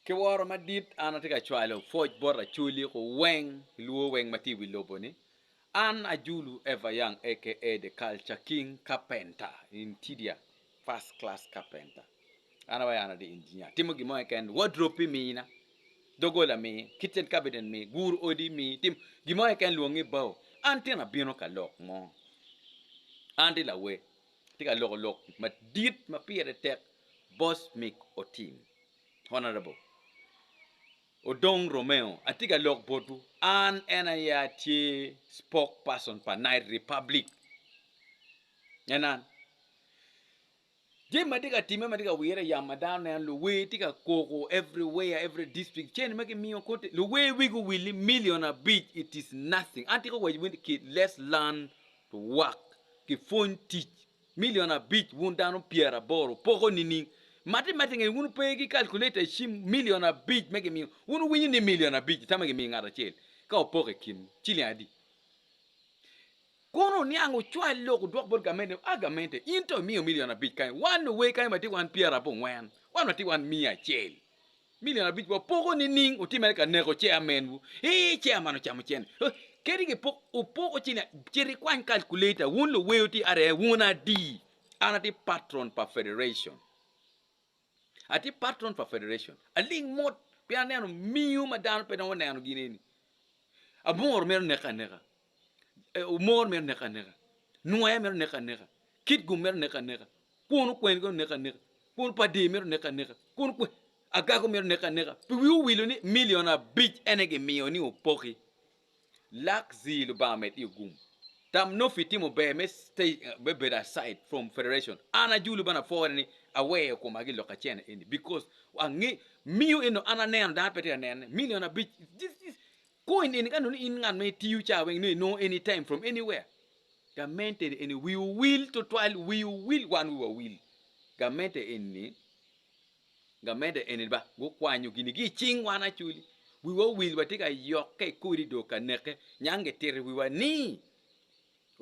Ki woro madit an atye ka cwalo pwoc bot Acholi ku weng ilwor weng ma tye i wi lobo ni. An Ajulu Ever Young aka The Culture King Carpenter, Interior First Class Carpenter. An awaco an atye Engineer, atimo gin mo keken, wardrobe pi mi na, dogola mi, kitchen cabinet mi, guru odi mi, tim gin mo keken lwong ni bao. An tyen abino ka lok mo. An tye lawer. Atye ka loko lok madit ma pire tek boss mick otim. Honorable. Odong Romeo atye ka lok botwu an en aye atye spoke person pa night republic en an jami ma tye ka time ma tye ka wire yam ma dano neno luwer tye ka koko every where every district cene ma kimiyo kote luwer wigi owil ni million abic it is nothing an tye ka waco wini kit let's learn Rwak ki pwony tic. Milion abic wun dano pyeraboro poko nining? Mati mati nge wun pe ki calculator i cim milion abic me gimiyo wun winyo ni milion abic tama gimiyo ngat acel ka opoko i kin ciling adi? Kono niang ocwal lok odwok bot gamente ni a gamente in to imiyo milion abic kany wan owe kany watye wan pyerabongwen wan watye wan miya acel Milion abic wapoko nining otimere ka neko chairman wu eeh chairman ocamo cene oh, kadi ki pok opoko cene cit ikwany calculator wun luweyo ti are wun adi an ati patron pa federation ati patron pa federation aling mot pien aneno miyo ma dano pe dong oneno gin eni abongoro mito neke aneka omor mere oneke aneka, nwer mere oneke aneka, kit gum mere oneke aneka, kwon okwen gire oneke aneka, kwon pa dee mere oneke aneka, kwon okwen, agako mere oneke aneka. Pi wi owilo ni milion abic en aye gimiyo ni opoki. Lak zii Lubanga med iyo gum. Tam noppi itimo ber me stay me bedo aside from federation. An ajulu bene apwore ni aweyo koma ki lok acen eni because ange miyo eno an aneno dano pe tye ka nene. Milion abic this this Kong ineni ka nongo in ngat ma itiyo caa weng nongo inongo any time from anywhere. Gamente eni wii owil tutwal wii owil wan wiwa wil. Gamente eni gamente eni ba gukwanyo gini gi icing wan acoli wiwa owil watye ka yokke ikodi dong ka neke nyang gitito wiwa ni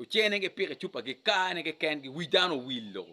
Ocene gi piki cupa gi kaa ne ki ken gi wi dano owilo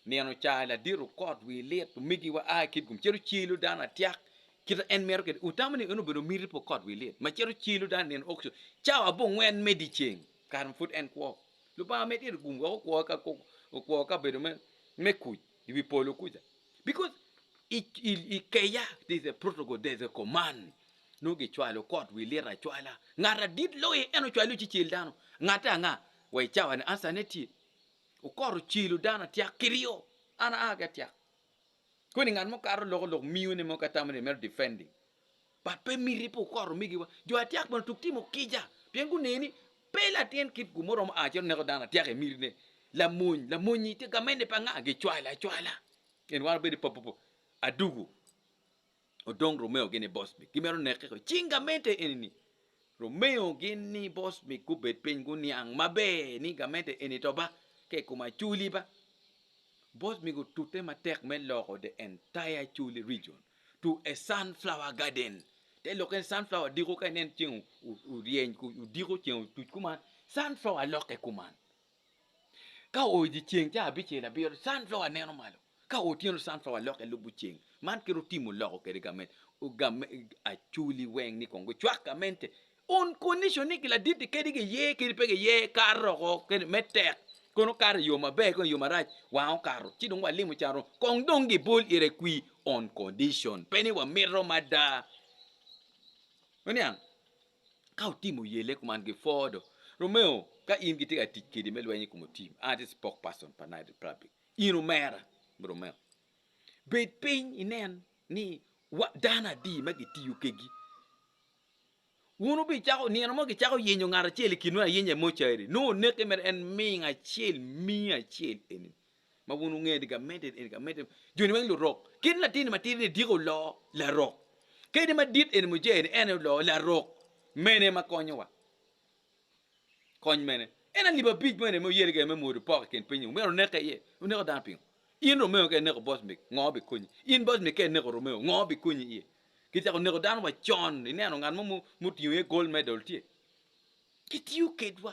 nino caa ladit okot wi lit omigi wa aa kit gum cito cilo dano atiak kita en mito kede utamo ni en obedo miti pi okot wi lit ma cito cilo dano nino okco cawa abongwen me diceng kare ma pud en kwo lubanga med ito gum weko kwo ka kok okwo ka bedo me me kuc i wi polo kuca because i i i keya there's a protocol there's a command Nongo gicwalo kot wi lit acwala. Ngat adit loye, en ocwalo ci cel dano. Ngatte anga? Wa i cawa-ni, answer-ne tye. Okot ocelo dano atyak kiryo. An aa ki atyak. Koni ngat mo kato loko lok miyo ne mo ka tamo ni mito defending. But pe miti pe okot omigiwa. Jo atyak bene tuk timo kica pien guneno ni pe latin kit gu muromo aa cito neko dano atyak emiti ne. Lamony, lamonyi tye gamente pa nga? Gicwalo acwala. Gin wano bedo i papupu adugu. Odong Romeo gin ni boss mi gimito neke ko cing gamente eni ni Romeo gin ni boss mi gubed piny guniang maber ni gamente eni to ba ka i kom aculi ba boss mi gutute matek me loko the entire aculi region to a sunflower garden te lokke ni sunflower diko ka inen ceng oryeny odiko ceng otuc kuman sunflower lokke kuman Ka oo dye ceng ca abicel abiro, sunflower neno malo. Ka oo otyeno sunflower lokke lubo ceng. Man kit otimo loko kwede gamente. Acholi weng ni kong gucwak gamente on condition ni ladit-ti kadi giye kadi pe giye kato doko me tek kong okato i yo maber ki i yo marac wang okato ci dong walimo can oko kong dong gibol ite kwir on condition pe ni wamito mada. Waniang? Ka otimo yelle kuman gipwoo do. Romeo, ka in gitye ka tic kedi me lweny i kom otim, an atye spok pason pa Night Republic. In omera, Romeo. Bed piny inen ni wa dano adi ma gitiyo kegi. Wun wubicako, nino mo gicako yenyo ngat acel i kinwu ayenya i mochari, nongo oneke mere en ming acel, mii acel eni. ma wun wungeyo ni gamente eni gamente joni weng lurok kit latin matidi ni diki oloo larok kadi madit eni mujee ni ene oloo larok mene ma konyo wa kony mene en alip abic mo eni muyeli gene me mwodo pok ikin piny ni myero oneke iye oneko dano pingo in romeo ka ineko boss mick ngo bi konyi in boss mick ka ineko romeo ngo bi konyi iye kicako neko dano wa con ineno ngat mo mutingo iye gold medal tye kitiyo kedwa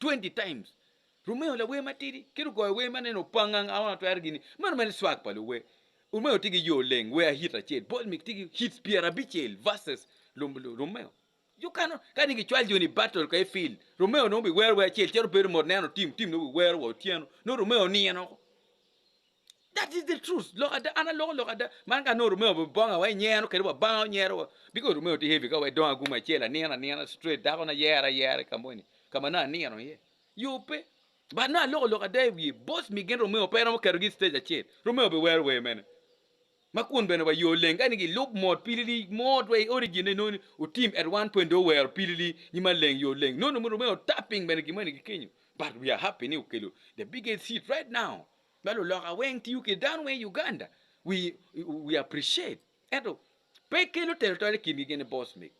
Twenty times Romeo lawer matidi ki lugoyo wer ma nene opanga nga ma twero gini meno mere swag pa luwer Romeo tye ki yoo leng wer hit acel ball mix tye ki hits pyerabicel verses Romeo you cannot kadi ki cwal joni battle ka i field Romeo nongo bi wero wer acel cito bedo mot neno team team nongo bi wero wa otyeno nongo Romeo nino That is the truth. Lok ada, an aloko lok ada. Man ka nongo Romeo obedo bonga wa inyero kede wa banga onyero wa. Biko Romeo tye heavy ka wa idongo aguma acel anino anina straight dako na yero ayera ka moni. Ka ma nongo anino iye. Yo pe. But nongo aloko lok ada i wiye. Boss mi gin Romeo pe romo ketogi i stage acel. Romeo obedo wero wer mene. Ma kun bene wa yo leng kani gilub mot pilili mot wa i origin ne noni otim at one point do wero pilili nyi ma leng yo leng. Nongo Romeo tapping bene gin moni gikenyo. But we are happy ni okelo the biggest hit right now. Ma luloka weng tiyo ki dano weng i Uganda we appreciate ento pe kelo telo tol i kingi gin ni boss me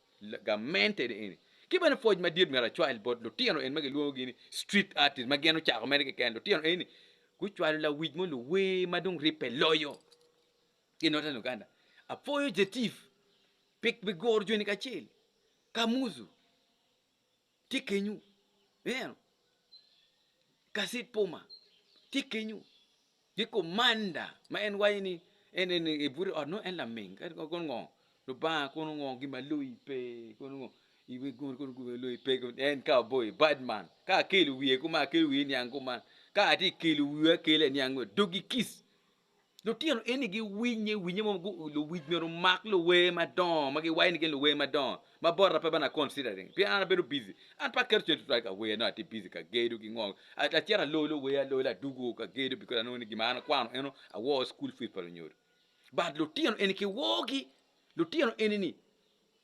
gamente ni eni ki bene pwoc madit myero acwal bot lutino eni ma gilwongogi ni street artist ma gin ocako mere keken lutino eni gucwalo lawic mo luwer ma dong ribbe loyo ki northern Uganda apwoyo Jetif pi guro joni kacel Kamuzu tye kenyu, ineno, Kaset Poma tye kenyu, ki Komanda ma en waco ni en en ebute i ot nongo en laming, kadi kono ngo Lubanga kono ngo gin ma loyi pe kono ngo iwek gin kono gin ma loyi pe kono en ka oboyi badman ka akelo wiye kuman akelo wiye iniang kuman ka atye ka kelo wiya akela iniang kuman dogi kic Lutino eni giwinye, winye mo gu- luwic myero omak luwer madongo ma giwayo ni gin luwer madongo ma bota pe bana considering pien an abedo busy an pe aketo cen tutwal ka wer no atye busy ka gedo ki ngo A- acito alolo wer alola adugo ka gedo because anongo ni gin ma an akwano eno awor school fees pa lunyodo but lutino eni kiwogi lutino eni ni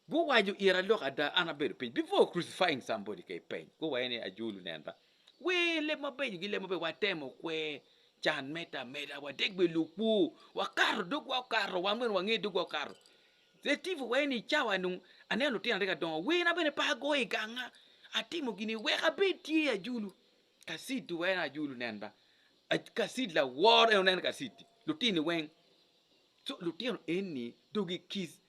Guwaco ira lok ada an abedo piny before crucifying somebody ka ipeny go wa ene ajulu nen ba wee leb mabeco gi leb mabeco watemo kwer can meda ameda wadek bene lukwo wakato dogwa okato wan bene wange dogwa okato the tiful wa ene icawa nu aneno lutino aryo ka dongo wer na bene pe agoyo iganga atimo gini wek abed tye ajulu kacid wa ene ajulu nen ba kacid lawor ene onen kacid lutini weng so lutino eni dogi kids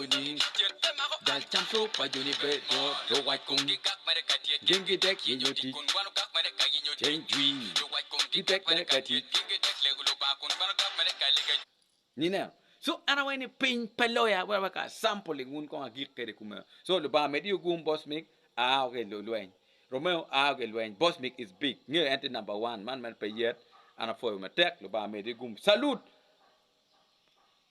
joni Dok cam co pa joni bedo luwac kom Gin gidek yenyo tic Ceng jwi gidek mere ka tic Nineno So an awaco ni piny pe loya wek awek a sampling wun kong agik kwede kumeno So Lubanga omedde i ogum boss mig a woko i lweny Romeo a woko i lweny boss mig is big ngeyo en tye number one man man pe yet an apwoyo matek Lubanga omedde i ogum salute.